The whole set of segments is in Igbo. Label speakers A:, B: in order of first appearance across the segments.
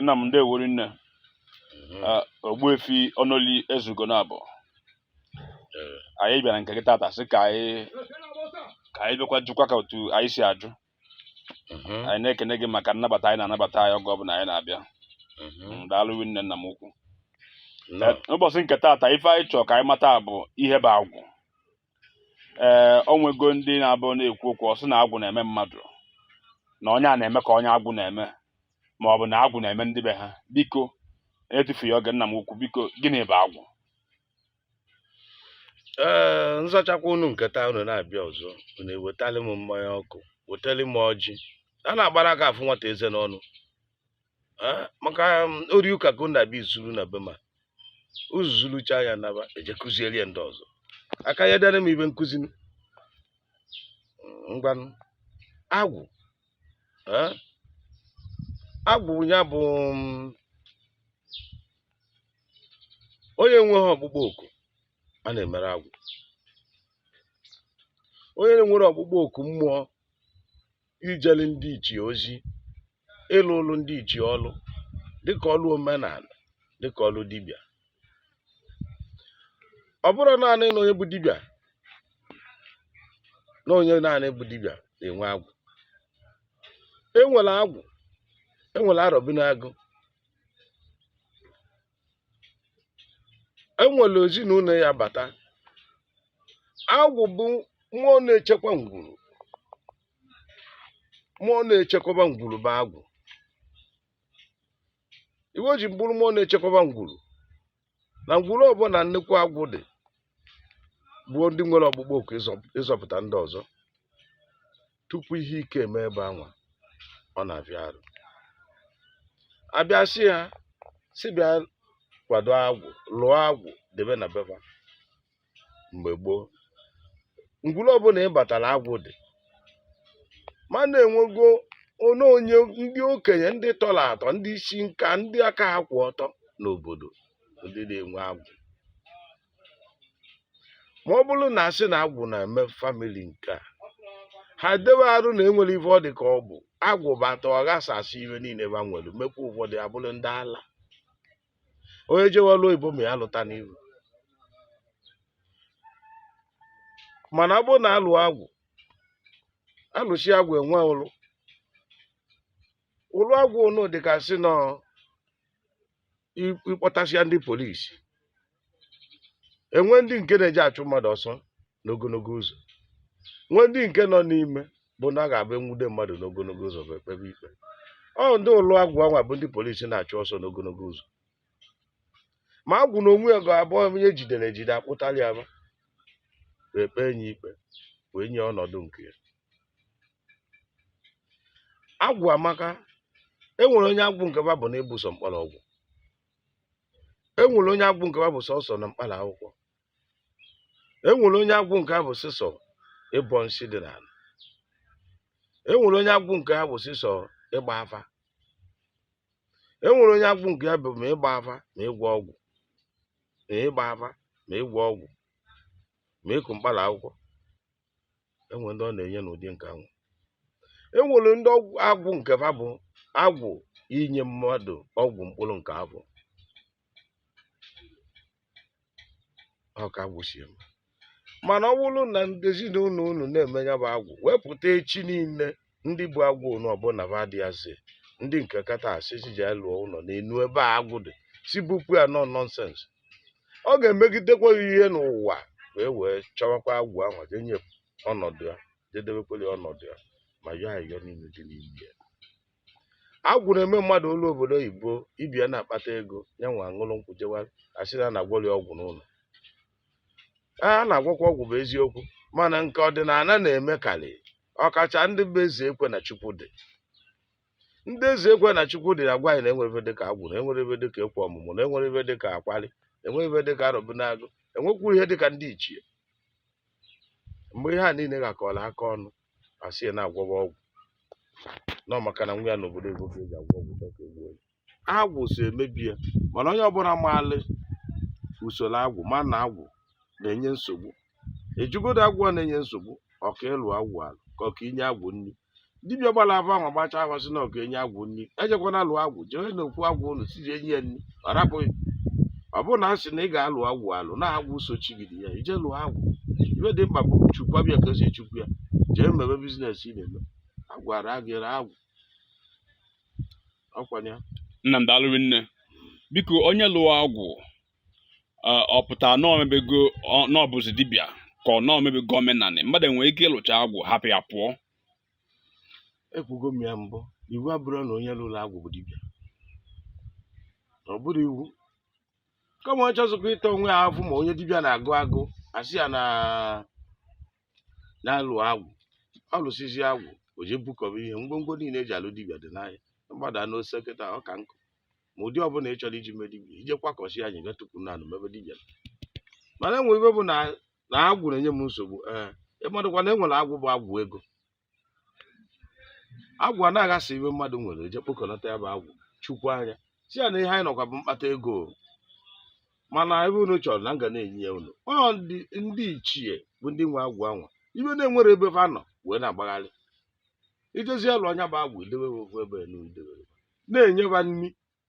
A: nna m ndewo rinne Ogbuefi Ọnọli Ezugo na abụ anyị bịara nke gị tata sị ka anyị bịakwa jụkwa ka otu anyị si ajụ anyị na-ekene gị maka nnabata ị na-anabata anyị oge ọbụla anyị na-abịa daalụ rinne nna m ukwu ụbọchị nke tata ife anyị chọrọ ka anyị mata bụ ihe bụ agwụ ee o nwego ndị na-abụ na-ekwu okwu ọ sị na agwụ na-eme mmadụ na onye a na-eme ka onye agwụ na-eme ma ọ bụ na agwụ na-eme ndị be ha biko etufughị oge nna m ukwu biko gịnị bụ
B: agwụ ee nzachakwa unu nke taa unu na-abịa ọzọ unu ewetali m mmanya ọkụ wetali m ọjị a na-agbara aka afụ nwata eze n'ọnụ maka um, ori ụka ka unu na-abịa izuru na be m uzuzurucha ya naba eje kụziere ya ndị ọzọ aka ya dara m ibe nkụzi ngwanụ agwụ agwụ ya bụ um, onye nweghị ọkpụkpọ oku a na-emere agwụ onye nwere ọkpụkpọ oku mmụọ ijeli ndị ichie ozi ịlụlụ ndị ichie ọlụ dịka ọlụ omenala dịka ọlụ dibịa ọ bụrọ naanị na onye bụ dibịa na onye naanị bụ dibịa na-enwe agwụ enwere agwụ enwere arọbinagụ enwere ezinụlọ ya bata agwụ bụ mmụọ na-echekwa ngwuru mmụọ na-echekwaba ngwuru bụ agwụ ife o ji bụrụ mmụọ na-echekwaba ngwuru na ngwuru ọbụla nnukwu agwụ dị gboo ndị nwere ọkpụkpọ oku ịzọpụta ndị ọzọ tupu ihe ike eme ebe anwa ọ na-abịa arụ abịa sị ha si bịa kwado agwụ lụọ agwụ debe na be ba mgbe gboo ngwuru ọbụla ịbatara agwụ dị mana enwego onye onye ndị okenye ndị tọrọ atọ ndị isi nka ndị aka ha kwụ ọtọ n'obodo ndị na-enwe agwụ ma ọ bụrụ na asị na agwụ na-eme famili nke a ha dewe arụ na enwere ife ọ dị ka ọ bụ agwụ bata ọ ghasasị ife niile ba nwere mekwa ụfọdụ abụrụ ndị ala onye jewe ọlụ oyibo ma alụta n'iru mana ọ bụrụ na alụ agwụ alụsi agwụ enwe ọlụlụ agwụ ụnụ dịka sị na ịkpọtasịa ndị polisi enwe ndị nke na-eji achụ mmadụ ọsọ n'ogologo ụzọ nwee ndị nke nọ n'ime bụ na a ga-abụ enwude mmadụ n'ogologo ụzọ bụ ekpebe ikpe ọ ndị ụlọ agwụ anwa bụ ndị polisi na-achụ ọsọ n'ogologo ụzọ ma agwụ na onwe ya ga-abụ onye e jidere ejide akpụtara ya ma ekpe enye ikpe wee nye ọnọdụ nke ya agwụ amaka e nwere onye agwụ nke ba bụ na ịbụ sọ mkpọrọgwụ e nwere onye agwụ nke ba bụ sọsọ na mkpara akwụkwọ e nwere onye agwụ nke ha bụ sịsọ ịbọ nsị dị n'ala e nwere onye agwụ nke ha bụ sịsọ ịgba afa e nwere onye agwụ nke ya bụ ma ịgba afa ma ịgwọ ọgwụ ma ịgba afa ma ịgwọ ọgwụ ma ịkụ mkpara akwụkwọ enwe ndị ọ na-enye n'ụdị nke anwụ enwere ndị agwụ nke fa bụ agwụ inye mmadụ ọgwụ mkpụrụ nke afọ ọ ka agwụ si eme mana ọ bụrụ na ndị ezinụlọ unu na-eme ya bụ agwụ wepụta echi niile ndị bu agwụ ụnụ ọbụla ba dị azị ndị nke kata asị si ji lụọ ụlọ n'enu ebe agwụ dị si bupụ ya na ọ nonsense ọ ga-emegidekwa ihe n'ụwa e wee chọwakwa agwụ ahụ je nye ọnọdụ ya je debekwere ọnọdụ ya ma yọọ ayọ niile dị n'ime ya agwụ na-eme mmadụ o luo obodo oyibo ebe a na-akpata ego ya nwe aṅụrụ nkwụ jewa asị na a na-agwọrị ọgwụ n'ụlọ a na-agwọkwa ọgwụ bụ eziokwu mana nke ọdịnala na-eme karị ọkacha ndị bụ eze ekwe na chukwu dị ndị eze ekwe na chukwu dị agwa anyị na enwere ihe dịka agwụ na enwere ihe dịka ekwe ọmụmụ na enwere ihe dịka akwali enwere ihe dịka arọbịnagụ enwekwu ihe dịka ndị ichie mgbe ihe a niile gakọrọ aka ọnụ asị ya na-agwọba ọgwụ na ọ maka na nwa ya n'obodo ego ka eji agwọ ọgwụ chọọ ka egbuo ya agwụ so emebi ya mana onye ọbụla maalị usoro agwụ ma na agwụ na-enye nsogbu ejugodo agwụ a na-enye nsogbu ọka ịlụ agwụ alụ ka ọka inye agwụ nri dibịa gbara afa ahụ gbacha afa sị na ọ ga-enye agwụ nri ejekwana alụ agwụ jee n'okwu agwụ ụlọ si enye ya nri ọ rapụ gị ọ bụrụ na a sị na ị ga-alụ agwụ alụ na agwụ sochigide ya i je lụọ agwụ ife dị mkpa bụ chukwa bịa ka esi echukwu ya jee mebe business ị na-eme agawara gị agwụ nna m daalụ
A: nne biko onye lụọ agwụ ọ pụtara na o mebego na ọ bụzi dibịa ka ọ na o mebego omenanị mmadụ enwere ike ịlụcha agwụ hapụ ya pụọ
B: ekwugo m ya mbụ iwu abụrọ na onye lụrụ agwụ bụ dibịa ọ bụrọ iwu kama ọ chọzikwa ịta onwe ya afụ ma onye dibịa na-agụ agụ asị ya na na-alụ agwụ ọ lụsịzi agwụ o jee bukọba ihe ngwongwo niile eji alụ dibịa dị n'ahịa gbada n'Ose kịta ọ ka nkụ ma ụdị ọbụla ị chọrọ iji mee dibịa ije kwakọsi anyị ga tukwu n'anị mebe dibịa. mana enwe ibe bụ na agwụ na-enye m nsogbu ee ịmadụkwa na enwere agwụ bụ agwụ ego agwụ a na-aghasa ibe mmadụ nwere eje kpokọnata ya bụ agwụ chukwu anya si ya na ihe anyị nọkwa bụ mkpata ego o. mana ibe unu chọrọ na m ga na-enye ya unu ọ ndị ndị ichie bụ ndị nwe agwụ anwa ibe na enwerọ ebe fa nọ wee na-agbagharị ijezi lụa nya bụ agwụ idewe ofu ebe na idewere na-enye ha nri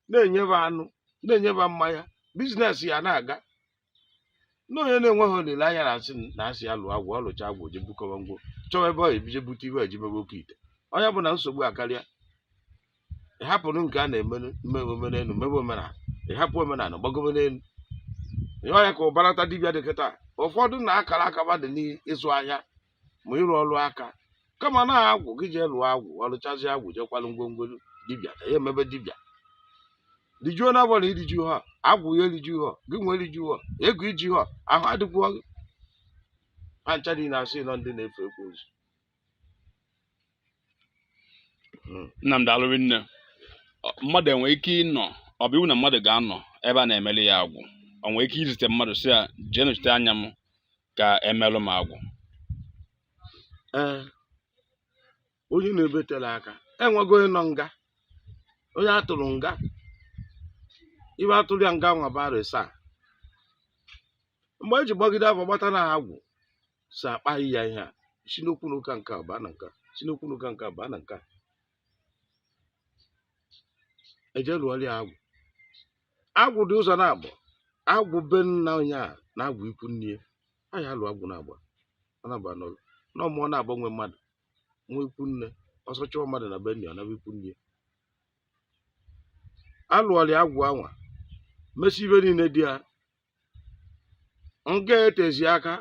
B: na-enye ha anụ na-enye ha mmanya biznes ya na-aga na onye na-enweghị olileanya na-asị na asị ya lụọ agwụ ọ lụcha agwụ je bukọwa ngwo chọwa ebe ọ ebije bute ibe eji mebe oke ite ọ nya bụ na nsogbu akarịa ịhapụrụ nke a na-eme mebe omenelu mebe omenala ịhapụ omenala gbagobe n'elu ee ọ nya ka ụbarata dibịa dị kịta ụfọdụ na akara aka ha dị n'ịzụ ahịa ma ịrụ ọrụ aka kama na agwa gị jee lụọ agwụ ọ lụchazi agwụ jekwalụ ngwongwo dibịa ka ya emebe dibịa rijuo n'afọ na iriju ha agwụ ya eriju ha gị nwa eriju ha ego iji ha ahụ adịkwuo gị ha ncha niile asị na ọ ndị na-efe ekwensu
A: hmm. Nna m daalụ rinne mmadụ enwe ike ịnọ ọ bụ iwu na mmadụ ga-anọ ebe a na-emeli ya agwụ ọ nwee ike izite mmadụ si ya jee nọchite anya m ka emelụ m agwụ
B: ee onye na-ebetela aka enwego onye nọ nga onye atụrụ nga ibe atụrụ ya nga nwa bụ arọ asaa mgbe eji gbagide afa gbata na agwụ si akpaghị ya ihe a si n'okwu n'ụka nke a baa na nke a si n'okwu n'ụka nke a baa na nke a eje lụọrọ ya agwụ agwụ dị ụzọ naabọ agwụ be nna onye a na agwụ ikwu nne ya a ya alụ agwụ naabọ na-agba n'ụlọ na ọ mụọ naabọ nwe mmadụ nwa ikwu nne ọsọ chụọ mmadụ na be nna ya ọ naba ikwu nne ya alụọrọ ya agwụ anwa mesi ibe niile dị ya nke etezi aka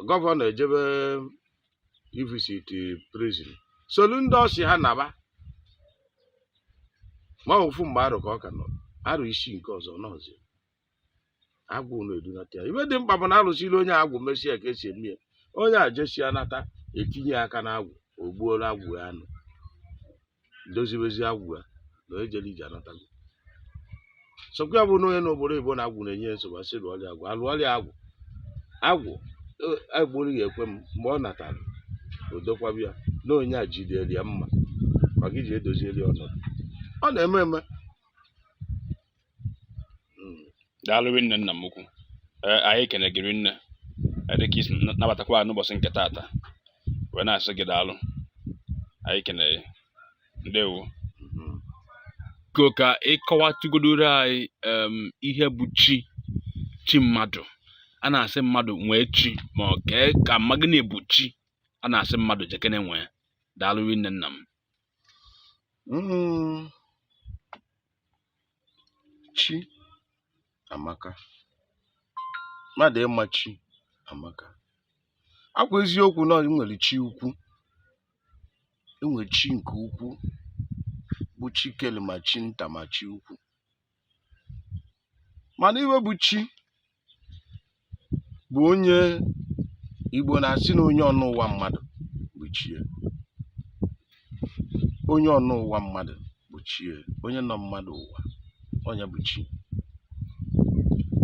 B: gọvanọ ejebe ivisit prison solu ndị ọ sị ha naba ma ofu mgbe arọ ka ọ ka nọ arọ isii nke ọzọ nọzi agwụ unu edunata ya ibe dị mkpa bụ na alụsịlị onye agwụ mesie ka esi eme ya onye a jesia nata etinye aka n'agwụ o gbuoro agwụ ya anụ dozibezi agwụ ya na onye jere ije anatago sọkwa ya bụ na onye nọ obodo oyibo na agwụ na-enye ya nsogbu asị lụọrị ya agwụ alụọrị ya agwụ agwụ e- agbụrụ ya ekwe m mgbe ọ natara o dokwaba ya na onye a jidere ya mma maka iji edozieli ya ọnọdụ ọ na-eme eme
A: hmm. daalụ rinne nna m ukwu eh, anyị kene gị rinne eh, dịka i si nabatakwa n'ụbọchị nke taata wee na-asị gị daalụ anyị kene ndewo hmm. biko ka ị kọwatụgodoro anyị ihe bụ chi chi mmadụ a na-asị mmadụ nwee chi ma ọ kee ka ma gịnị bụ chi a na-asị mmadụ jekene nwee daalụ rinne nna m hmm.
B: chi amaka mmadụ ịma chi amaka ọ kwa eziokwu na e nwere chi ukwu e nwere chi nke ukwu bụ chi kele ma chi nta ma chi ukwu mana ihe bụ chi bụ onye Igbo na-asị na onye ọnọ ụwa mmadụ bụ chi e onye ọnọ ụwa mmadụ bụ chi e onye nọ mmadụ ụwa onye bụ chi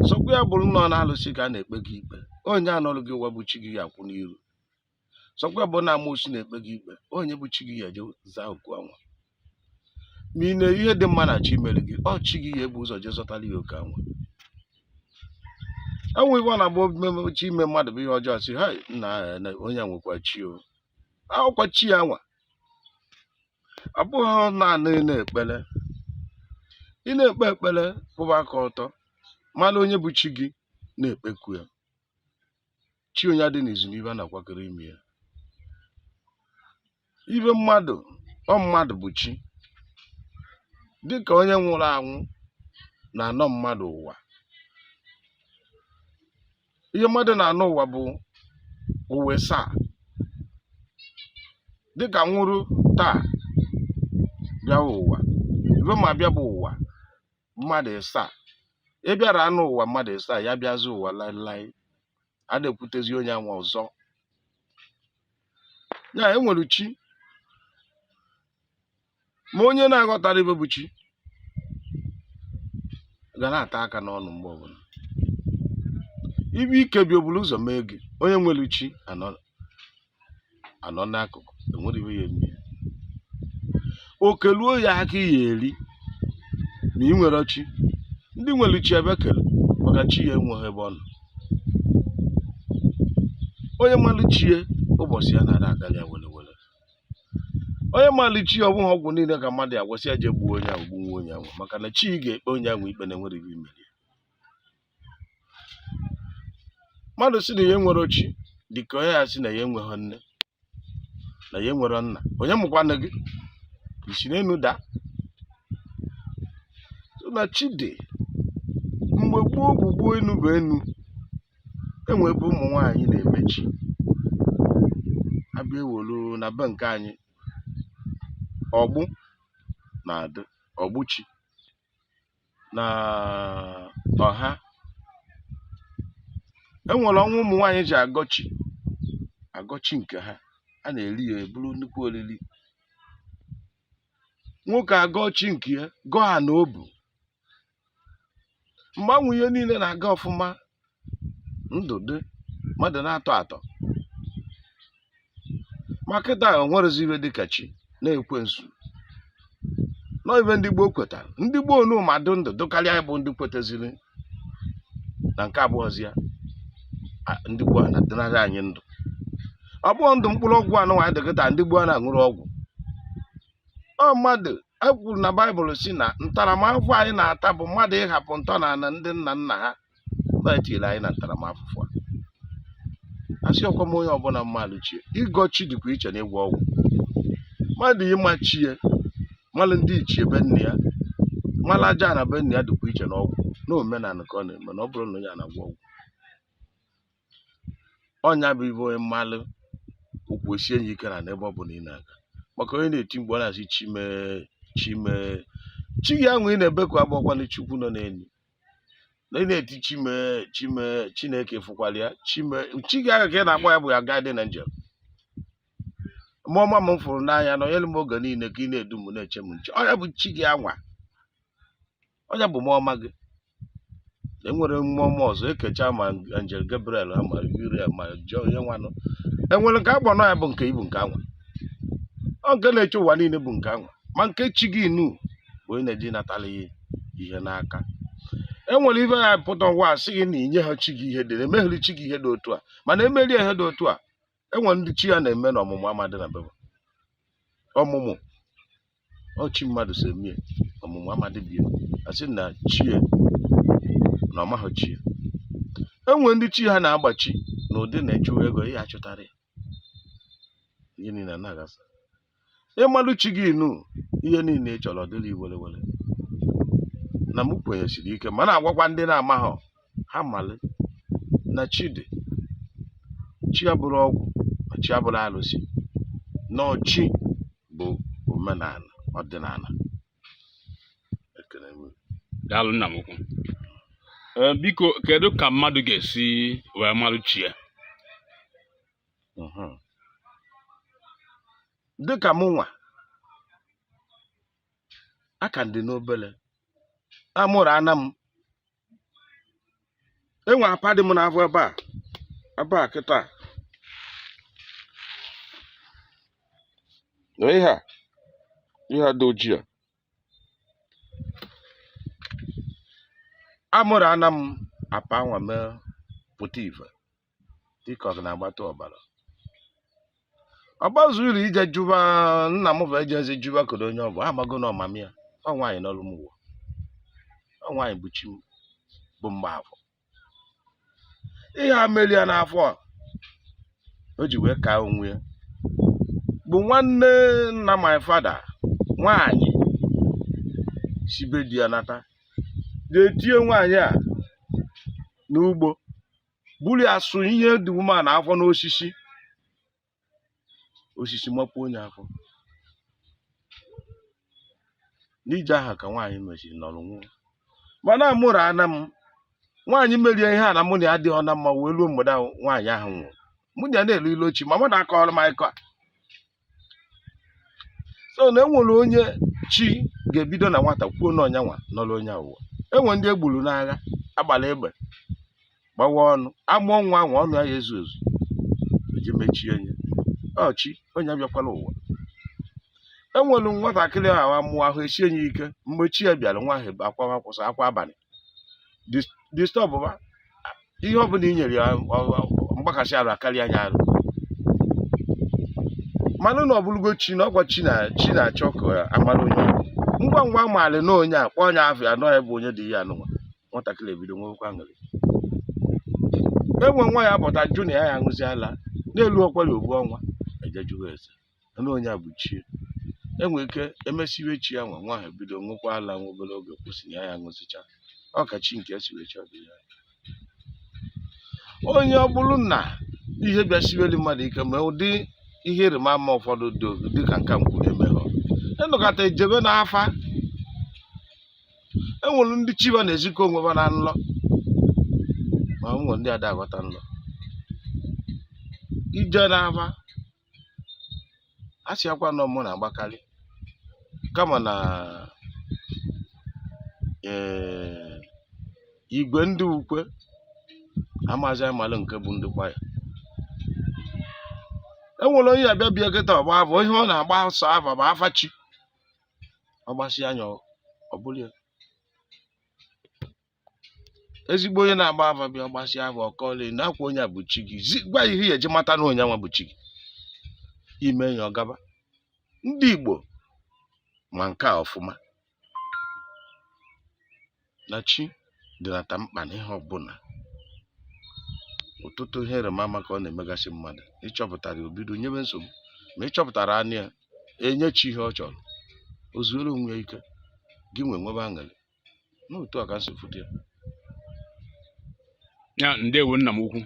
B: sọkwa ya bụrụ na ọ n'alụsị ka a na-ekpe gị ikpe onye a nọrụ gị ụwa bụ chi gị ga-akwụ n'iru sọkwa bụ na amoosu na-ekpe gị ikpe onye bụ chi gị ya-eje zaa oku anwa ma ị na-eri ihe dị mma na chi mere gị ọ chi gị ya-ebu ụzọ jee zọtara ya oke anwa e nwee ihe ọ na-abụ omume chi ime mmadụ bụ ihe ọjọọ si ha na na onye a nwekwa chi o akwụkwọ chi ya nwa ọ bụghị naanị ị na-ekpere ị na-ekpe ekpere kwụba aka ọtọ mara onye bụ chi gị na-ekpeku ya chi onye adị n'izu n'ibe a na-akwakọrọ ime ya ibe mmadụ ọ mmadụ bụ chi dịka onye nwụrụ anwụ na-anọ mmadụ ụwa ihe mmadụ na-anọ ụwa bụ ụwa ịsaa dịka nwụrụ taa bịawa ụwa ibe ma bịa bụ ụwa mmadụ ịsaa ị bịara anọ ụwa mmadụ ịsaa ya bịazi ụwa laịlaị a na-ekwutezi onye anwa ọzọ ya na e nwere chi ma onye na-aghọtara ibe bụ chi ga na-ata aka n'ọnụ mgbe ọbụla ibe ike bịa o buru ụzọ mee gị onye nwere chi anọ anọ n'akụkụ enwere ibe ya eme oke ruo ya aka ya eri ma ị nwere chi ndị nwere chi ebe kere maka chi ya enweghị ebe ọ nọ onye malụ chi e ụbọchị ya na-adị agara ya were were onye malụ chi ọ bụghị ọgwụ niile ka mmadụ ya gwasị ya jee gbuo onye ahụ gbuo onye ahụ maka na chi ga-ekpe onye ahụ ikpe na enwere ibe i mere mmadụ sị na ya enwerọ chi dị ka onye ya sị na ya enweghị nne na ya nwere nna onye mụkwanụ gị i si n'enu daa na chi dị mgbe gboo gboo gboo enu bụ enu enwe ebe ụmụ nwaanyị na-eme chi abịa ewolu na be nke anyị ọgbụ na-adị ọgbụ chi na ọha e nwere ọnwa ụmụ nwaanyị ji agọ chi agọ chi nke ha a na-eri ya eburu nnukwu oriri nwoke agọ chi nke ya gọọ ya na obu mgbe anwa ihe niile na-aga ọfụma ndụ dị mmadụ na-atọ atọ ma kịta e nwerezi ihe dịka chi na ekwensu nọ ihe ndị gboo kwetara ndị gboo nu ma dụ ndụ dụkarịa anyị bụ ndị kwetaziri na nke abụọzi ya a- ndị gboo a na-adịnarị anyị ndụ ọ bụghị ndụ mkpụrụ ọgwụ anụnwa anyị dị kịta ndị gboo a na-aṅụrụ ọgwụ ọ mmadụ e kwuru na baịbụl sị na ntaramahụhụ anyị na-ata bụ mmadụ ịhapụ ntọnala ndị nna nna ha na-etiri anyị na ntaramahụhụ a asị ọkwa m onye ọbụla malụ chi ya ịgọ chi dịkwa iche na ịgwọ ọgwụ mmadụ ịma chi ya malụ ndị ichie be nna ya malụ aja ana be nna ya dịkwa iche na ọgwụ na omenala ka ọ na-eme na ọ bụrọ na onye a na-agwọ ọgwụ ọ nya bụ ive onye malụ ụkwụ esie ya ike n'ana ebe ọ bụla ị na-aga maka onye na-eti mgbe ọ na-asị chi m e chi m e chi gị anwa ị na-ebeku abụkwana chukwu nọ n'elu na ị na-eti chi m e chi m e chineke fụkwara ya chi m e chi gị ahụ ka ị na-akpọ ya bụ ya guardian angel mmụọ ọma m fụrụ n'anya na-enyere m oge niile ka ị na-edu m na-eche m nche ọ ya bụ chi gị anwa ọ nya bụ mmụọ ọma gị enwere mmụọ ọma ọzọ ekecha ma angel gabriel ha ma uriel ma jọ onye nwanụ enwere nke agba nọ ya bụ nke ibu nke anwa ọ nke na-eche ụwa niile bụ nke anwa ma nke chi gị nu bụ onye na-eji natala ya ihe n'aka enwere ive ya pụta ụwa a sị gị na inye ha chi gị ihe dị na emeghịrị chi gị ihe dị otu a mana emere ya ihe dị otu a enwere ndị chi ha na-eme na ọmụmụ amadị na be ha ọmụmụ ọ chi mmadụ si eme ya ọmụmụ amadị be ya a sị na chi ya na ọ maghị chi ya enwere ndị chi ha na-agbachi na ụdị na-echewa ego ihe achụtara ya ihe niile a na-aghasa ịmalụ chi gị nu ihe niile ị chọrọ dịrị ị were were na m kwenyesiri ike ma na-agwakwa ndị na-amaghọ ha malị na chi dị chi abụrọ ọgwụ ma chi abụrọ arụsị na ọ chi bụ omenala ọdịnala ekele m daalụ nna m ukwu
A: Ee, biko kedu ka mmadụ ga-esi wee marụ chi ya
B: mhm. dịka mụnwa ka m dị n'obere amụrụ ana m e nwe apa dị m n'afọ ebe a ebe a kịta na ihe a ihe a dị ojii a a mụrụ ana m apa nwa mee pụta ife dịka ọ na-agbata ọbara ọ gbazuru ije jụba nna m bụ ejezi jụba kedu onye ọ bụ a mago na ọ mama ya ọ nwaanyị nọrụ m ụwa ọ nwaanyị bụ chi m bụ Mgbafọ ihe e merụ ya n'afọ a o ji wee kaa onwe ya bụ nwanne nna my father nwaanyị si be di ya nata ga-etinye nwaanyị a n'ugbo buru ya sụ ihe dị ume na afọ n'osisi osisi mapuo ya afọ n'ije ahụ ka nwaanyị mesịrị nọrọ nwụọ mana a mụrụ ana m nwaanyị merụ ya ihe a na mụ na ya adịọ na mma wee ruo mgbede ahụ nwaanyị ahụ nwụrụ mụ na ya na-elo ilo ọ chi mama m na-akọrọ m akụkọ a so na e nwere onye chi ga-ebido na nwata kwuo na ọ nyanwa nọrọ onye a ụwa e nwe ndị e gburu n'agha a gbara egbe gbawa ọnụ a mụọ nwa ahụ ọnụ ya ezu ezu e ji mechie onye ọ chi onye abịakwala ụwa e nwere nwatakịrị ahụ a mụọ ahụ esie ya ike mgbe chi ya bịara nwa ahụ akwa akwụsị akwa abalị disturb ihe ọ bụla i nyere ya mgbakasị arụ akarịa nya arụ manụ na ọ bụrụgo chi na ọ kwa chi na-achọ ka a mara onye ngwa ngwa a maara na onye a kpọọ nya afa ya na ọ ya bụ onye dị ihe anụnwa nwatakịrị ebido nwekwa aṅụrị e nwe nwa ya pụta jụ na ya ya aṅụzi ala n'elu ọkwari ogbu ọnwa e je jụgo ese na onye a bụ chi e nwere ike emesiwe chi ya nwa nwa ahụ ebido ṅụkwa ala nwa obere oge kwụsị ya ya ṅụsịcha ọ ka chi nke esiwe chi ọdị ya onye ọ bụrụ na ihe bịasiweli mmadụ ike ma ụdị ihe iriba ama ụfọdụ dị oge dịka nka m kpu emeghọ a nọkata e jebe n'afa e nwere ndị chi ha na-ezikọ onwe ha na nlọ ma nwere ndị ada aghọta nlọ e je n'afa a sị akwa nọ mụ na-agbakarị kama na ee igwe ndị ukwe amazi amalụ nke bụ ndị kwaya e nwere onye a bịa bịa kịta ọ gba afa ihe ọ na-agba sọ afa bụ afa chi ọ gbasịa nya ọ bụrụ ya ezigbo onye na-agba afa bịa ọ gbasịa afa ọ kọọla na akwa onye a bụ chi gị zi gwa ihe ị ya-eji mata na onye nwa bụ chi gị i mee ya ọ gaba ndị igbo ma nke a ọfụma na chi dịnata mkpa na ihe ọbụla ọtụtụ ihe ịrịba ama ka ọ na-emegasị mmadụ ị chọpụtarọ ya o bido nyebe nsogbu ma ị chọpụtara nya enye chi ihe ọ chọrọ o zuoro onwe ya ike gị nwa enwebe aṅụrị na otu a ka m si fụta
A: ya ya ndewo nna m ukwu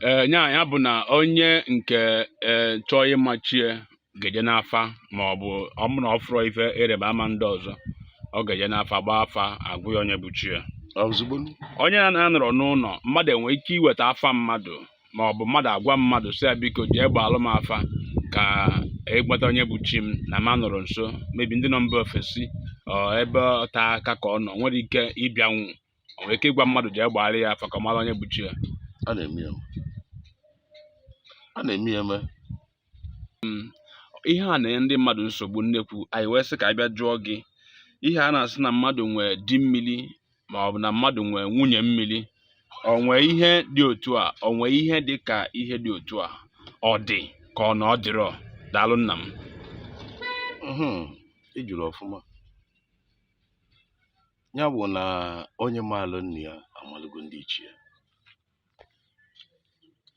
A: ee ya ya bụ na onye nke ee chọọ ịma chi ya ga-eje n'afa ma ọ bụ ọ bụ na ọ fụrọ ife ịrịba ama ndị ọzọ ọ ga-eje n'afa gbaa afa a gwa ya onye bụ chi ya ozugbo
B: onye na-anọrọ
A: n'ụlọ mmadụ e nwere ike iweta afa mmadụ ma ọ bụ mmadụ agwa mmadụ sị ya biko jee gbaalụ m afa ka ị gbata onye bụ chi m na m anọrọ nso maybe ndị nọ mba ofesi ọ ebe ote aka ka ọ nọ nwerọ ike ịbịanwu o nwere ike ịgwa mmadụ jee gbaara ya afa ka ọ mara onye bụ chi ya a na-eme ya eme.
B: a na-eme ya eme
A: mm, ihe a na-enye ndị mmadụ nsogbu nnekwu anyị wee sị ka anyị bịa jụọ gị ihe a na-asị na mmadụ nwee di mmiri ma ọ bụ na mmadụ nwee nwunye mmiri o nwee ihe dị otu a o nwee ihe dị ka ihe dị otu a ọ dị ka ọ na ọ dịrọ daalụ nna
B: m ị jụrụ ọfụma ya bụ na onye maalụ nna ya amalụgo ndị ichie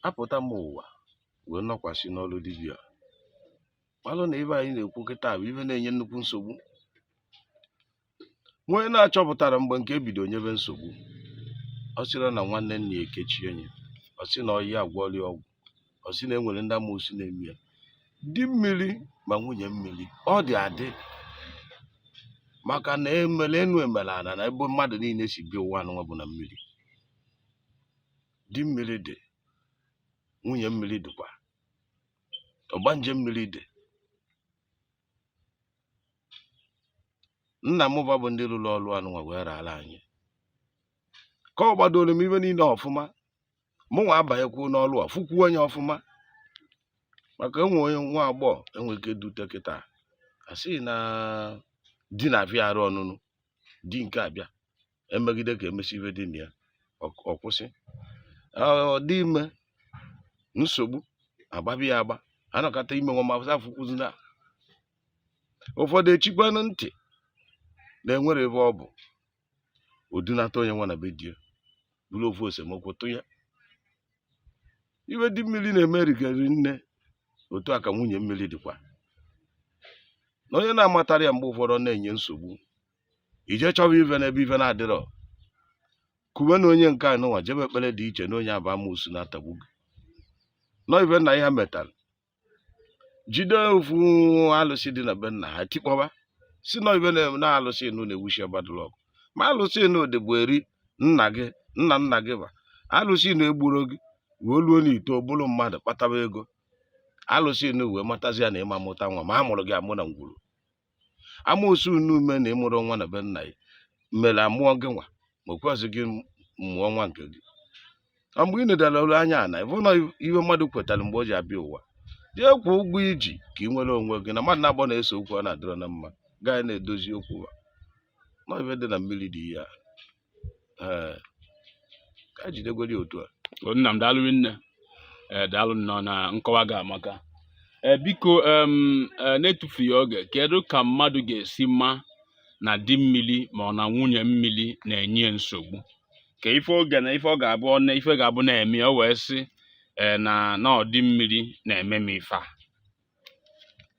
B: apụta m ụwa wee nọkwasị n'ọrụ dibịa malụ na ife anyị na-ekwu kịta bụ ife na-enye nnukwu nsogbu onye na-achọpụtarọ mgbe nke a bido nyebe nsogbu ọ sịrị na nwanne nna ya ekechie nya ọ sị na ọyị ya gwọrọ ya ọgwụ ọ sị na e nwere ndị amoosu na-eme ya di mmiri ma nwunye mmiri ọ dị adị maka na e mere enu e mere ana na ebe mmadụ niile si bịa ụwa anụnwa bụ na mmiri di mmiri dị nwunye mmiri dịkwa ọgbanje mmiri dị nna m fa bụ ndị rụrụ ọrụ anụnwa wee raara anyị kọwadooro m ife niile ọfụma mụ nwa abanyekwuo n'ọrụ a fụkwuo nya ọfụma maka e nwee onye nwa agbọghọ e nwee ike dute kịta a sị na di na-afịa arụ ọnụnụ di nke a bịa emegide ka emesi ife dị na ya ọ kwụsị ọ dị ime nsogbu agbabi ya agba anọkata ime nwa mafụsa afụkwuzi na ụfọdụ echikwanụ ntị na e nwere ebe ọ bụ odunata onye nwa na be di ya bụrụ ofu esemokwu tụ ya ihe di mmiri na-eme rikari nne otu a ka nwunye mmiri dịkwa na onye na-amatara ya mgbe ụfọdụ ọ na-enye nsogbu ije chọba ife n'ebe ife na-adịrọ kwube na onye nke a nụnwa jebe ekpere dị iche na onye a bụ amoosu na-atagbu gị na ọ ife nna ya metara jide ofu alụsị dị na be nna ha tikpọba sị na ọ ife na alụsị nụ na-ewuchi ọbadụlụ ọgụ ma alụsị nụ dịbu eri nna gị nna nna gị ba alụsị nụ egburọ gị wee luo na i too bụlụ mmadụ kpataba ego alụsị nụ wee matazi ya na ị ma-amụta nwa ma a mụrụ gị amụ na ngwuru amoosu unu ume na ị mụrụ nwa na be nna ya mere amụọ gị nwa ma o kwezi gị mụọ nwa nke gị ọ mgbe ị nedara olu anya na ị fụ na ihe mmadụ kwetara mgbe o ji abịa ụwa jee kwụ ụgwọ i ji ka ị nwere onwe gị na mmadụ na agbọ na-ese okwu ọ na-adịrọ na mma gaa na-edozi okwu ha na ife dị na mmiri dị ihe a ee ka anyị jidegodi otu a O, nna m daalụ rinne
A: ee daalụ nnọọ na nkọwa gị amaka ee biko em, ee, n'etufughị oge kedu ka mmadụ ga-esi ma na di mmiri ma ọ na nwunye mmiri na-enye ya nsogbu kee ife oge na ife ọ ga-abụ ọ na ife ga-abụ na-eme ya, o wee sị ee na na ọ di mmiri na-eme m ife a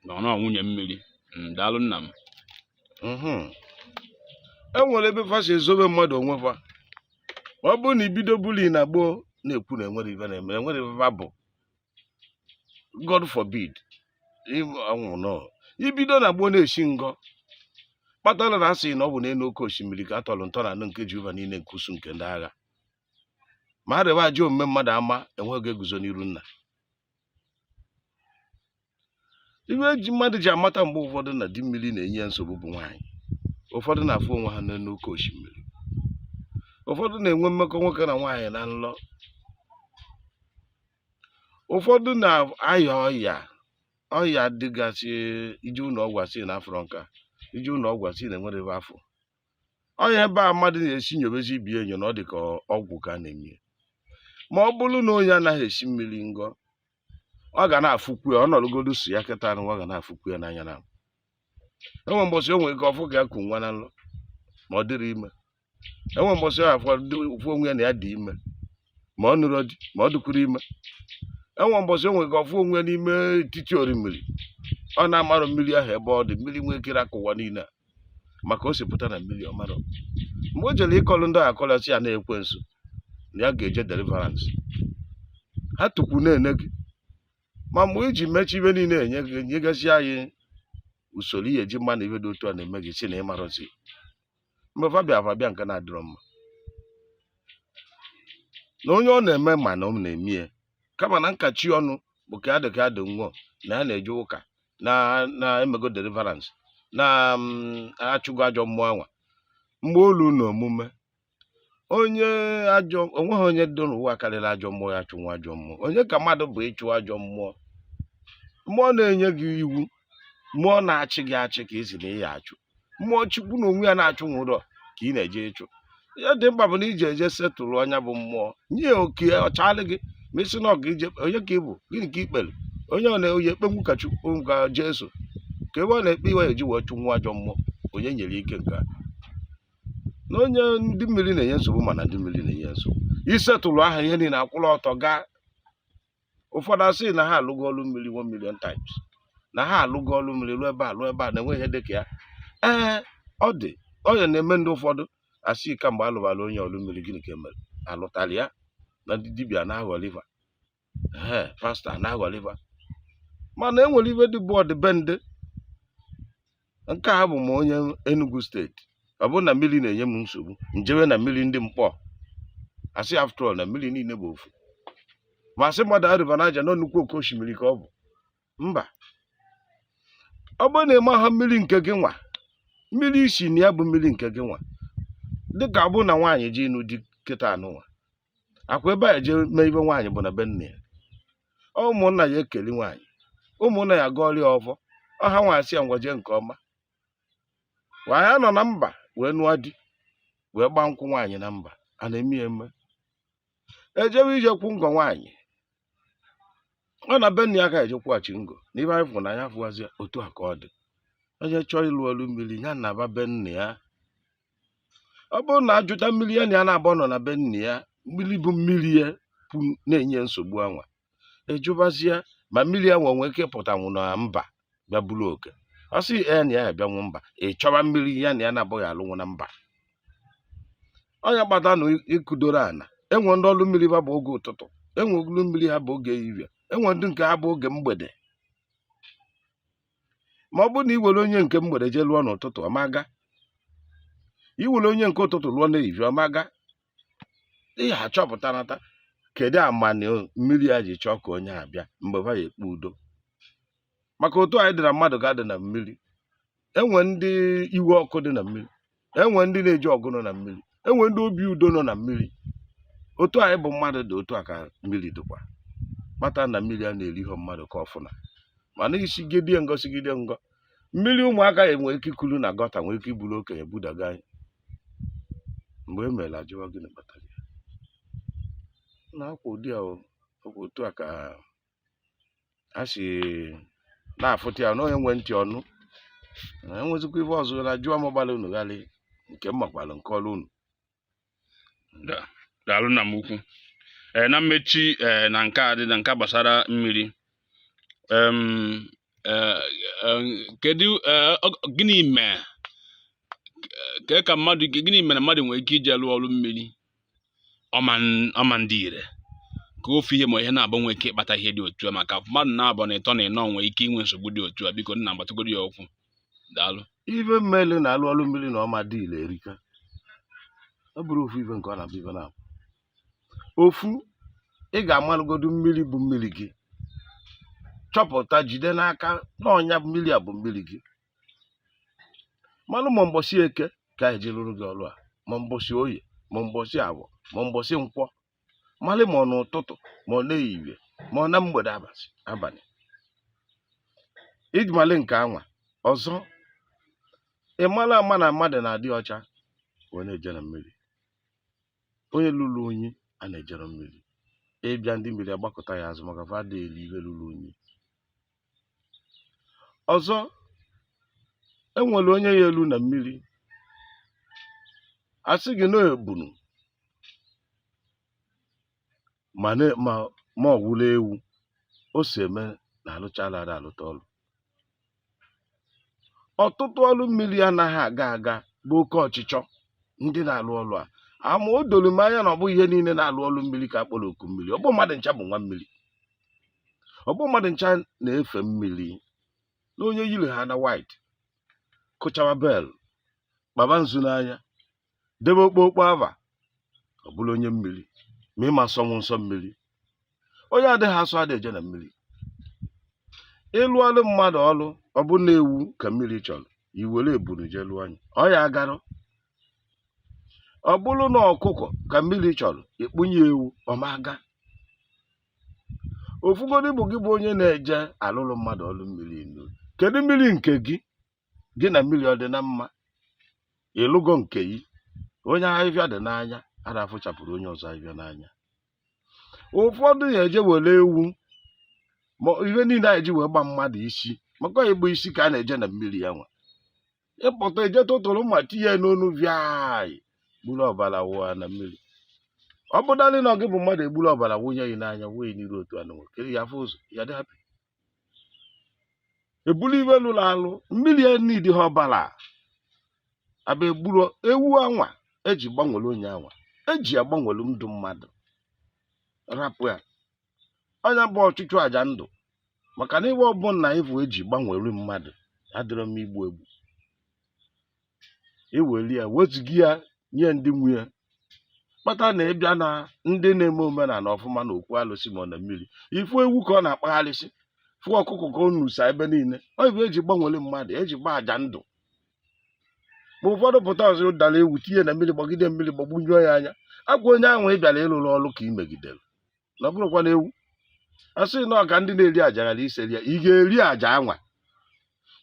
A: na ọ nwunye mmiri Mm, daalụ nna m
B: Mhm. e nwere ebe fa si ezobe mmadụ onwe fa ọ bụrụ na i bido buli na gboo na-ekwu na enwerọ ife na-eme enwerọ ife fa bụ God forbid ọ bụrụ na i bido na gboo na-esi ngọ kpatara na a sị na ọ bụ n'elu oke osimiri ka a tọrọ ntọ ana nke Jehova niile nke usuu nke ndị agha ma a rịba ajọ omume mmadụ ama onye ga-eguzo n'iru nna ihe e ji mmadụ ji amata mgbe ụfọdụ na di mmiri na-enye ya nsogbu bụ nwaanyị ụfọdụ na-afụ onwe ha n'elu oke osimiri ụfọdụ na-enwe mmekọ nwoke na nwaanyị na nlọ ụfọdụ na-aya ọya ọya dịgasị i je ụlọ ọgwụ a sị na afụrọ nka i je ụlọ ọgwụ a sị na enwerọ ebe a fụ ọya ebe a mmadụ na-esi nyobezi ibe enyo na ọ dị ka ọgwụ ka a na-eme ya ma ọ bụrụ na onye anaghị esi mmiri ngọ ọ ga na-afụkwu ya ọ nọrọgodu so ya kịta nụnwa ọ ga na-afụkwu ya n'anya na enwe mbọsị o nwere ike ọ fụ ka ya ku nwa na nlọ ma ọ dịrị ime enwe mbọsị ọ fụ onwe ya na ya dị ime ma ọ nụrụ di ma ọ dịkwuru ime enwe mbọsị o nwee ike ọ fụ onwe ya n'ime etiti orimiri ọ na-amarọ mmiri ahụ ebe ọ dị mmiri nwee kere aka ụwa niile a maka o si pụta na mmiri ọ marọ mgbe o jere ịkọlụ ndị ahụ akọlụ sị ya na-ekwe nso na ya ga-eje deliverance ha tukwu na-ene gị ma mgbe iji mechi ihe niile enye gị nyegasị anyị usoro ihe eji ama na ihe dị otu a na-eme gị si na ịmarọzi mgbe fa bịa fa bịa nke na-adịrọ mma na onye ọ na-eme ma na ọ na-eme ya kama na nkachi ọnụ bụ ka adị ka adị nwụọ na ya na-eje ụka na na-emego deliverance na achụgo ajọ mmụọ anwa mgbe o lu na omume onye ajọ onweghị onye dị n'ụwa karịrị ajọ mmụọ ya chụnwa ajọ mmụọ onye ka mmadụ bụ ịchụ ajọ mmụọ mmụọ na-enye gị iwu mmụọ na-achị gị achị ka ị sị na ị ya-achụ mmụọ chukwu na onwe ya na-achụnwurọ ka ị na-eje ịchụ ihe dị mkpa bụ na ị je eje settle nya bụ mmụọ nye ya oke ọchalị gị ma ị sị na ọga ije onye ka ị bụ gịnị ka ikpere onye ọ na-eyi ekpe nwu ka chukwu ka jesu ka ebe ọ na-ekpe ihe eji wee chụ nwa ajọ mmụọ onye nyere ike nke a na onye ndị mmiri na-enye nsogbu mana ndị mmiri na-enye nsogbu ị settle ha ihe niile akwụrụ ọtọ gaa ụfọdụ asị na ha alụgo ọrụ mmiri one million times na ha alụgo ọrụ mmiri lụọ ebe a lụọ ebe a na-enweghị ihe dịka ya ee ọ dị onye na-eme ndị ụfọdụ asị kamgbe alụbara onye ọrụ mmiri gịnị ka emere alụtara ya na ndị dibịa na-aghọli va ee pastọ na-aghọli va mana enwere ihe dị bụ ọdịbendị nke a bụ m onye Enugu steeti ọ bụrụ na mmiri na-enye m nsogbu m jewe na mmiri ndị Nkpọ asị after all na mmiri niile bụ ofu ma asị mmadụ River Niger na nnukwu oke osimiri ka ọ bụ mba ọ bụrụ na ịmaha mmiri nke gị nwa mmiri i si na ya bụ mmiri nke gị nwa dịka ọ bụrụ na nwaanyị je ịnụ di kịta anụnwa akwa ebe a jee mee ihe nwaanyị bụ na be nna ya ụmụnna ya ekeli nwaanyị ụmụnna ya gọọrọ ya ọfọ ọha nwa asị ya ngwa jee nke ọma nwaanyị anọ na mba wee nụọ di wee gbaa nkwụ nwaanyị na mba a na-eme ya eme ejewe ije kwụ ngo nwaanyị ọ na be nna ya ka eje kwụghachi ngo na ihe anyị fụrụ na anya fụwazi ya otu a ka ọ dị onye chọọ ịlụ ọlụ mmiri ya naba be nna ya ọ bụrụ na ajụta mmiri ya na ya na-abụ nọ na be nna ya mmiri bụ mmiri ya bụ na-enye nsogbu anwa ejụbazie ma mmiri anwa nwee ike ịpụtanwu na mba bịa buru oke ọ sị ya na ya abịanwu mba ị chọwa mmiri ya na ya na-abụghị alụnwu na mba ọ nya kpata na ịkụdoro ana enwe ndị ọrụ mmiri ha bụ oge ụtụtụ enwe ọrụ mmiri ha bụ oge ehihie enwe ndị nke ha bụ oge mgbede ma ọ bụrụ na ị were onye nke mgbede jee lụọ n'ụtụtụ ọ ma aga ị were onye nke ụtụtụ lụọ n'ehihie ọ ma aga ị ya-achọpụta nata kedu amanị mmiri ya ji chọọ ka onye a bịa mgbe ha ya-ekpe udo maka otu anyị dị na mmadụ ka a dị na mmiri enwe ndị iwe ọkụ dị na mmiri enwe ndị na-eji ọgụ nọ na mmiri enwe ndị obi udo nọ na mmiri otu anyị bụ mmadụ dị otu a ka mmiri dịkwa mata na mmiri a na-eri ihe mmadụ ka o funa mana ị sigide ngọ sigide ngọ mmiri ụmụaka ya nwere ike ikulu nwa gọta nwere ike iburu okenye budaga anyị mgbe e mere a jụwa gịnị kpatara ya na akwa ụdị a otu a ka a si na-afụta ya na onye nwe ntị ọ nụ na enwezikwa ife ọzọ na jụọ m gbara unu ghalị nke m makwara m kọọlụ unu Da-
A: daalụ nna m ukwu ee na mmechi ee na nke a dị na nke gbasara mmiri em ee, em, kedu ee, ọ- gịnị mee ka ka mmadụ gịnị mere mmadụ nwere ike ije lụọ ọrụ mmiri ọ ma-adị ire ka ofu ihe ma ihe naabụ nwee ike ịkpata ihe dị otu a maka mmadụ naabụ na ịtọ na ịnọ nwee ike inwe nsogbu dị otu a biko nna gbatụgoro ya okwu daalụ ife
B: mele na-alụ ọrụ mmiri na ọ ma dị ire erika ọ bụrọ ofu ife nke ọ na-abụ ife naabụ ofu ị ga-amalụgodu mmiri bụ mmiri gị chọpụta jide n'aka na ọ nya mmiri a bụ mmiri gị malụ ma mbọsị eke ka a na-eji arụrụ gị ọrụ a ma mbọsị oye ma mbọsị afọ ma mbọsị nkwọ malụ ma ọ n'ụtụtụ ma ọ n'ehihie ma ọ na mgbede abalị iji malụ nke anwa ọzọ ị mara ama na mmadụ na-adị ọcha wee na-eje na mmiri onye lụrụ unyi ana-ejerọ mmiri ị bịa ndị mmiri agbakụta ya azụ maka fa adịghị eri ihe lụrụ unyi ọzọ e nwere onye ya-elu na mmiri a sị gị na ebunu ma na- ma ma ọ wụla ewu o si eme na alụchala ada alụta ọlụ ọtụtụ ọlụ mmiri anaghị aga aga bụ oke ọchịchọ ndị na-alụ ọlụ a ama o doro m anya na ọ bụghị ihe niile na-alụ ọlụ mmiri ka a kpọrọ oku mmiri ọ bụ mmadụ ncha bụ nwa mmiri ọ bụ mmadụ ncha na-efe mmiri na onye yiri ha na white kụchawa bell kpaba nzu n'anya debe okpokpo ava ọ bụrụ onye mmiri ma ị ma sọnwu nsọ mmiri onye adịghị asọ adị eje na mmiri ịlụlụ mmadụ ọlụ ọ bụ na ewu ka mmiri chọrọ ị were ebunu jee lụọ nya ọ ya-agarọ ọ bụrụ na ọkụkọ ka mmiri chọrọ ị kpụnye ewu ọ ma aga ofu godị bụ gị bụ onye na-eje alụlụ mmadụ ọlụ mmiri inu kedu mmiri nke gị gị na mmiri ọ dị na mma ịlụgo nke gị onye ahịhịa dị n'anya ada afụchapụrụ onye ọzọ ahịhịa n'anya ụfọdụ ya eje were ewu ma ihe niile anyị ji wee gba mmadụ isi maka ịgba isi ka a na-eje na mmiri ya nwa ị pụta eje tụtụrụ mma tinye n'onu viai gburu ọbara wụọ na mmiri ọ bụdalị na ọ gị bụ mmadụ egburu ọbara wụnye gị n'anya wee n'iru otu anụ kere ya afụ ụzọ ya dị hapụ ebulu ihe lụrụ alụ mmiri enidi ha ọbara aba egburu ewu anwa eji gbanwere onye anwa eji agbanwere ndụ mmadụ rapụ ya ọ nya bụ ọchụchụ aja ndụ maka na ihe ọbụla ị fụ eji gbanwere mmadụ adịrọ egbu egbu eweli ya wezụga ya nye ndị nwe ya kpata na ị bịa na ndị na-eme omenala ọfụma na okwu alụsị ma ọ na mmiri ị fụ ewu ka ọ na-akpagharịsị fụ ọkụkọ ka ọ nusa ebe niile ọ bụ eji gbanwere mmadụ eji gba aja ndụ ma ụfọdụ pụta ọ zọdara ewu tinye na mmiri gbagide mmiri gbagbunyụọ ya anya ọ kwa onye ahụ ị bịara ịrụrụ ọrụ ka ị megidere na ọ bụrụkwa na ewu a sị na ọ ka ndị na-eri aja ghara ise rie ị ga-eri aja anwa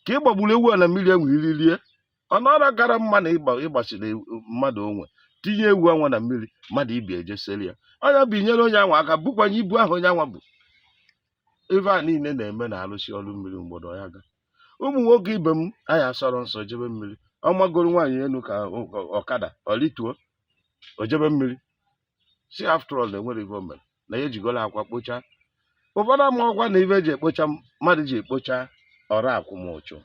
B: ka ị gbagburu ewu a na mmiri enwe iri rie ọ nọrọ kara mma na ịgba- ịgbasiri ewu- mmadụ onwe tinye ewu anwa na mmiri mmadụ ibi ejesiri ya ọ nya bụ i nyere onye anwa aka bukwanye ibu ahụ onye anwa bu ife a niile na-eme na arụsi ọrụ mmiri mgbọdọ ya ga ụmụ nwoke ibe m anyị asọrọ nsọ jebe mmiri ọ magoro nwaanyị elu ka ọ- ọ- ọkada ọ rituo o jebe mmiri si after all na enwerọ ife o mere na ya ejigola akwa kpocha ụfọdụ amarọkwa na ife eji ekpocha mmadụ ji ekpocha ọrụ akwụmụchụ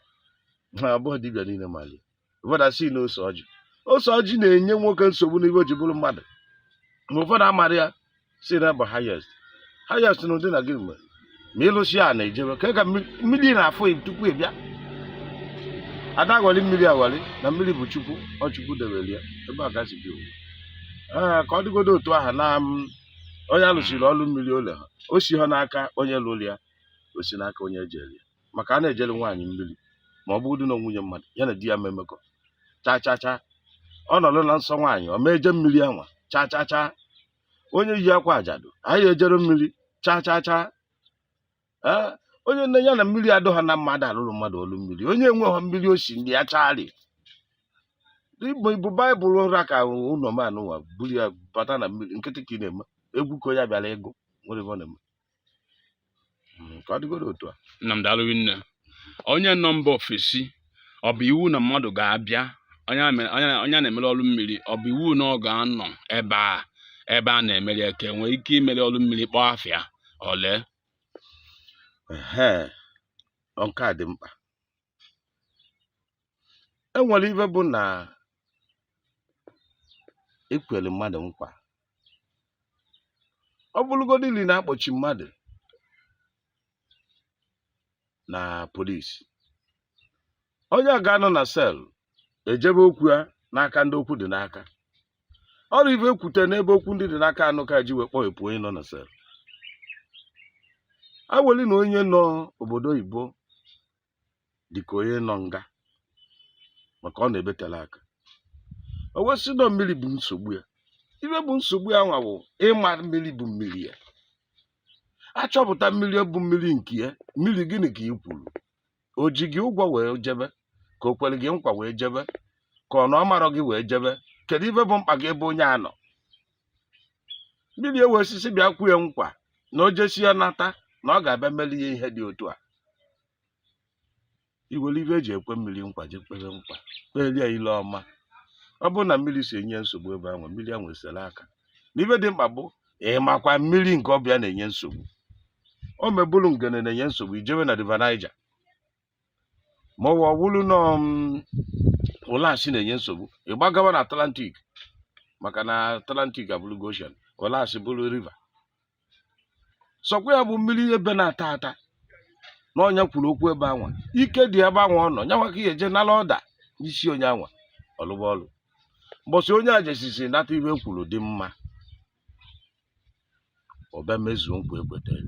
B: ma ọ bụrọ dibịa niile malị ya ụfọdụ asị na ose ọjị ose ọjị na-enye nwoke nsogbu n'ife o ji bụrụ mmadụ ma ụfọdụ amara ya si na bụ highest highest na ụdị na gịnị mere ma ị lụsi a na-ejebe ka ka mmiri na-afụ tupu ị bịa ada aghọli mmiri aghọli na mmiri bụ chukwu ọ chukwu debere ya ebe a gasị bi ee ka ọ dịgodo otu aha na onye alụsiri ọrụ mmiri o leha o si ha n'aka onye lụrụ ya o si n'aka onye ejere ya maka a na-ejere nwaanyị mmiri ma ọ bụrụ na nwunye mmadụ ya na di ya memekọ cha cha cha ọ nọrọ na nsọ nwaanyị ọ ma eje mmiri anwa cha cha cha onye yi akwa ajadu anyị ejere mmiri chaa chaa chaa ee onye na ya na mmiri adịghọ na mma da alụrụ mmadụ ọlụ mmiri onye enweghọ mmiri o si ndị ya chari i- ibu baịbụl ra ka ụlọ manụwa buru ya bata na mmiri nkịtị ka ị na-eme egwu ka onye bịara ịgụ nwere ebe ọ na-eme Mm, ka ọ dịgoro otu a nna m daalụ rinne
A: onye nọ mba ofesi ọ bụ iwu na mmadụ ga-abịa onye a mere- onye a- onye a na-emere ọrụ mmiri ọ bụ iwu na ọ ga-anọ ebe a ebe a na-emere ya ka e nwee ike imere ọrụ mmiri kpọọ afịa ole Ehe,
B: ọ nke a dị mkpa e nwere ife bụ na ekwere mmadụ nkwa ọ bụrụgodị ili na a kpọchi mmadụ na police onye a ga-anọ na cell e jebe okwu ya n'aka ndị okwu dị n'aka ọ bụ ife e kwute n'ebe okwu ndị dị n'aka anụ ka e ji wee kpọghepụ onye nọ na cell a weli na onye nọ obodo oyibo dịka onye nọ nga maka ọ nọ ebe tela aka o wee sị na mmiri bụ nsogbu ya ife bụ nsogbu ya nwa bụ ịma mmiri bụ mmiri ya a chọpụta mmiri bụ mmiri nke ya mmiri gịnị ka ị kwuru o ji gị ụgwọ wee jebe ka o kwere gị nkwa wee jebe ka ọ na ọ marọ gị wee jebe kedu ife bụ mkpa gị ebe onye a nọ mmiri ewe osisi bịa kwe nkwa na o jesia nata na ọ ga-abịa meli ya ihe dị otu a i were ife e ji ekwe mmiri nkwa je kpere nkwa kpelie ya ile ọma ọ bụrụ na mmiri si enye nsogbu ebe anwa mmiri anwa esere aka na ife dị mkpa bụ ịmakwa mmiri nke ọ bụ ya na-enye nsogbu ọ ma bụrụ Ngene na-enye nsogbu i jewe na river Niger ma ọ wụrụ na um, Ụlasị na-enye nsogbu ị gbagawa na Atlantic maka na Atlantic abụrụgo ocean Ụlasị bụrụ river sọkwa ya bụ mmiri ebe na-ata ata na onye a kwuru okwu ebe anwa ike dị ebe anwa ọ nọ nyanwa ka ị ya-eje nala order n'isi onye anwa ọ lụwa ọlụ mbọsị onye a jesisi nata ihe e kwuru dị mma ọ bịa mezuo nkwa e kwetara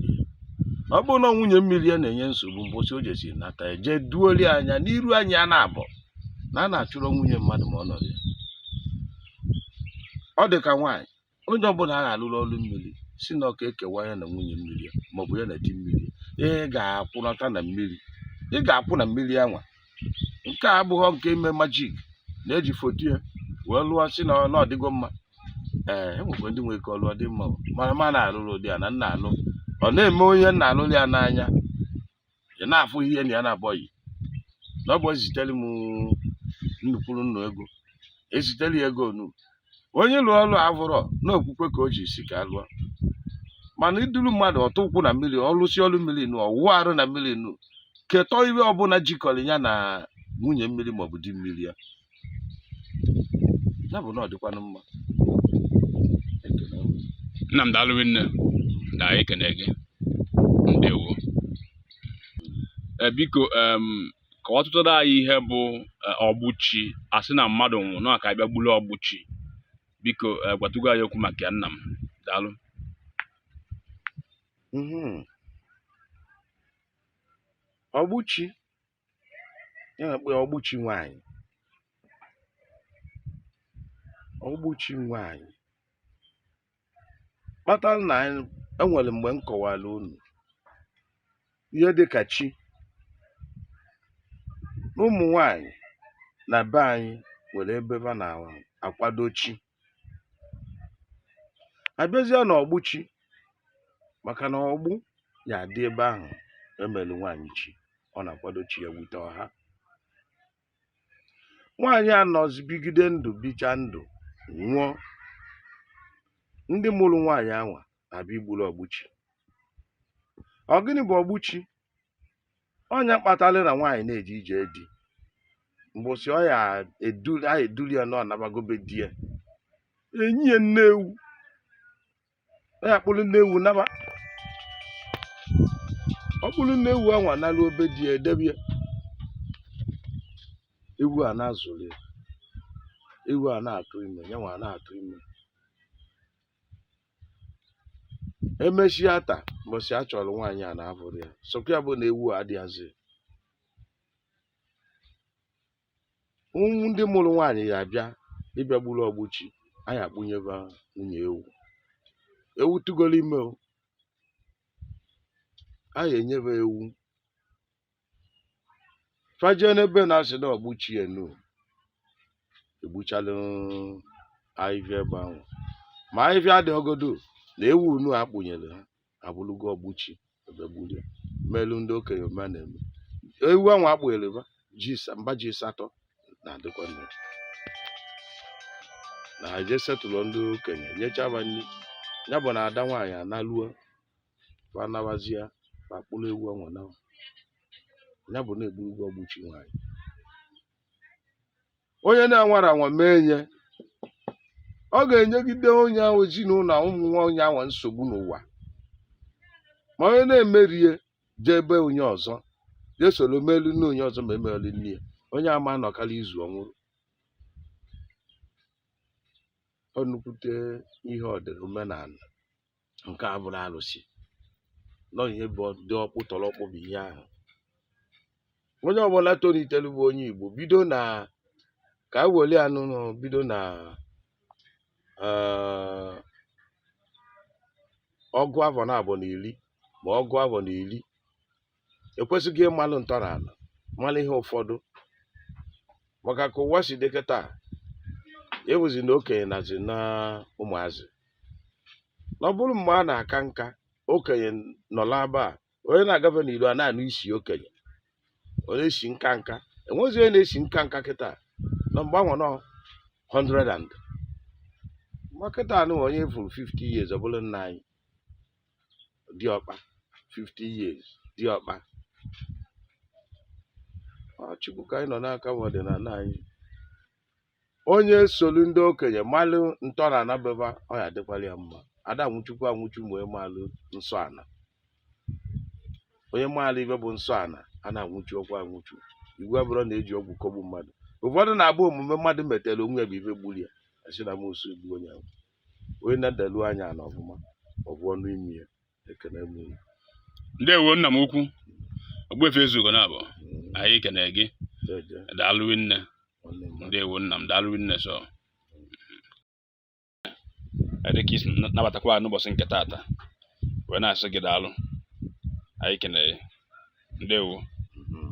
B: ya ọ bụrụ na nwunye mmiri ya na-enye nsogbu mbọsị o jesi nata ya jee duoli anya n'iru anyị a na-abọ na a na-achụrụ nwunye mmadụ ma ọ nọrọ ya ọ dị ka nwaanyị onye ọbụla a ga-alụrụ ọrụ mmiri sị na ọ ka ekewa ya na nwunye mmiri ya maọbụ ya na di mmiri ya ị ga-akwụnata na mmiri ị ga-akwụ na mmiri anwa nke a abụghọ nke ime magic na-eji foto ya wee lụọ sị na ọ na ọ dịgo mma ee e nwekwa ndị nwere ike ọ lụọ ọ dị mma mana ma na-alụrụ ụdị a na m na-alụ ọ na-eme onye m na-alụrụ ya n'anya ị na-afụ ihe na ya na-abọghị na ọ bụ ezitere m nnukwuru nnu ego ezitere ya ego nu onye lụọ ọlụ avụrọ na okwukwe ka o ji sị ka a lụọ mana i duru mmadụ ọ tụ ụkwụ na mmiri ọ lụsịa ọlụ mmiri nu ọ wụwa arụ na mmiri nu ketọ ife ọbụla jikọrọ ya na nwunye mmiri maọbụ di mmiri ya ya bụ na ọ dịkwanụ mma
A: ekele m. nna m daalụ rinne na anyị ekene gị ndewo Eh, biko em, kọwatụrụ anyị ihe bụ eh, ọgbụchi a sị na mmadụ nwụrụ na ka a bịa gburu ọgbụchi biko eh, gwatụgo anyị okwu maka ya nna m daalụ Mhm.
B: ọgbụchi ihe a na-akpọ ya ọgbụchi nwaanyị ọgbụchi nwaanyị kpatara na anyị enwere mgbe m kọwara unu ihe dị ka chi na ụmụ nwaanyị na be anyị nwere ebe ha na-akwado chi abịazie na ọgbụchi maka na ọgbụ ya-adị ebe ahụ emelu nwaanyị chi ọ na-akwado chi ya bute ọha nwaanyị anọzi bigide ndụ bicha ndụ nwụọ ndị mụrụ nwaanyị anwa na-abịa igburu ọgbụchi ọ gịnị bụ ọgbụchi ọ nya kpatara na nwaanyị na-eje ije di mbọsị ọ ya eduli a eduli ya na ọ nabago be di ya enye ya nne ewu ọ ya kpụrụ nne ewu naba ọ kpụrụ nne ewu anwa naruo be di ya edebe ya ewu a na-azụrụ ya ewu a na-atụ ime ya nwa na-atụ ime emesịa taa mbọsị a chọrọ nwaanyị a na-ahụrọ ya sokwa ya bụ na ewu adịghịzi ụmụ ndị mụrụ nwaanyị ya abịa ịbịa gburu ọgbụchi anyị akpụnye ba nwunye ewu ewu tụgoro ime o anyị enye ba ewu fa jee n'ebe a na-asị na ọgbụchi unu egbuchalụ ahịhịa ebe ahụ ma ahịhịa dị ọgodo na ewu unu akpụnyere ha abụrụgo ọgbụchi ebe gburu ya melu ndị okenye ma na-eme ewu ahụ akpụnyere ba ji sa- mba ji asatọ na-adịkwa nne na ha je setụlụ ndị okenye nyechaa ba nri ya bụ na ada nwaanyị analuo fa nabazia fa kpụrụ ewu anwa naa ya bụ na egburugo ọgbụchi nwaanyị onye na-anwarọ anwa mee nya ọ ga-enyegide onye ahụ ezinụlọ na ụmụ nwa onye ahụ nsogbu n'ụwa ma onye na-emerọ ya jee be onye ọzọ jee soro melu nne onye ọzọ ma emereli nne ya onye ama anọkarị izu ọ nwụrụ ọ nnukwute ihe ọ dịrị omenala nke a bụrụ arụsị nọ ihe bụ dị ọkpụ tọrọ ọkpụ bụ ihe ahụ onye ọbụla tolitere bụ onye Igbo bido na ka e were ya n'ụlọ bido na eh, ọgụ afọ naabọ na iri ma ọgụ afọ na iri ekwesigo ịmalụ ntọnala malụ ihe ụfọdụ maka ka ụwa si dị kịta ewuzi na okenye nazi na ụmụazị na ọ bụrụ mgbe a na-aka nka okenye nọla aba a onye na-agafe n'ilo a na-anụ isi okenye ọ na-esi nka nka enwezi onye na-esi nka nka kịta na mgbe ahụ nọ 100 and ma kịta a nụ onye furu 50 years ọ bụrụ nna anyị diọkpa 50 years diọkpa Ọ Chukwu ka anyị nọ n'aka ma ọdịnala anyị onye solu ndị okenye malụ ntọnana be ba ọ ya-adịkwalụ ya mma a da-anwụchukwa anwụchu ma onye maalụ nsọ ana onye maalụ ife bụ nsọ ana a na-anwụchukwa anwụchu iwu abụrọ na e ji ọgwụ kọgbu mmadụ ụfọdụ na-abụ omume mmadụ metere onwe ya bụ ife gburu ya a sị na amosu egbu onye ahụ onye nedalu anya ana ọfụma ọ fụ ọnụ imi ya ekene m unu.
A: ndewo nna m ukwu Ogbuefi Ezeugo na abụ Mm, anyị kene gị jeje, daalụ nne nwanne m. ndewo nna m daalụ nne so dịka i si na- nabatakwa anyị n'ụbọchị nke taata wee na-asị gị daalụ anyị kene gị ndewo Mhm.